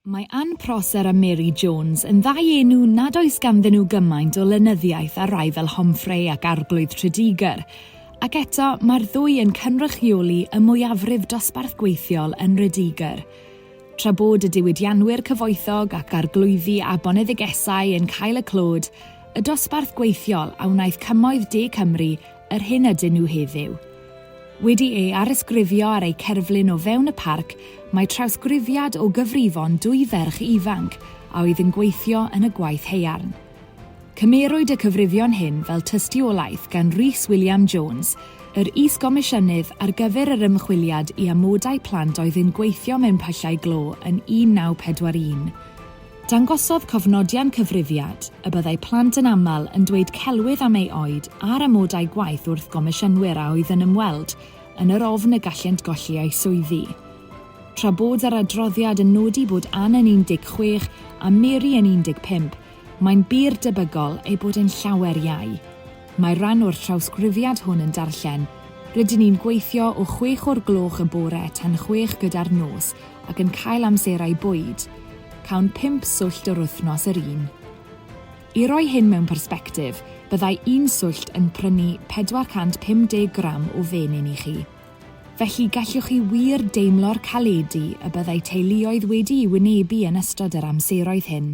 Mae Ann Prosser a Mary Jones yn ddau enw nad oes ganddyn nhw gymaint o lenyddiaeth â rhai fel Homfrey ac Arglwydd Tredegar, ac eto mae'r ddwy yn cynrychioli y mwyafrif dosbarth gweithiol yn Nredegar. Tra bod y diwydianwyr cyfoethog ac arglwyddi a boneddigesau yn cael y clod, y dosbarth gweithiol a wnaeth cymoedd de Cymru yr hyn ydyn nhw heddiw. Wedi ei arysgrifio ar eu cerflun o fewn y parc, mae trawsgrifiad o gyfrifon dwy ferch ifanc a oedd yn gweithio yn y gwaith haearn. Cymerwyd y cyfrifion hyn fel tystiolaeth gan Rhys William Jones, yr Is-Gomisiynydd ar gyfer yr Ymchwiliad i Amodau Plant oedd yn gweithio mewn pyllau glo yn 1941. Dangosodd cofnodion cyfrifiad y byddai plant yn aml yn dweud celwydd am ei oed a'r amodau gwaith wrth gomisiynwyr a oedd yn ymweld, yn yr ofn y gallent golli eu swyddi. Tra bod yr adroddiad yn nodi bod Ann yn 16 a Mary yn 15, mae'n bur debygol eu bod yn llawer iau. Mae'r rhan o'r llawsgrifiad hwn yn darllen, Rydyn ni'n gweithio o chwech o'r gloch y bore tan chwech gyda'r nos, ac yn cael amserau bwyd, cawn pump swllt yr wythnos yr un. I roi hyn mewn persbectif, byddai un swllt yn prynu 450 gram o fenyn i chi. Felly gallwch chi wir deimlo'r caledi y byddai teuluoedd wedi'i wynebu yn ystod yr amseroedd hyn.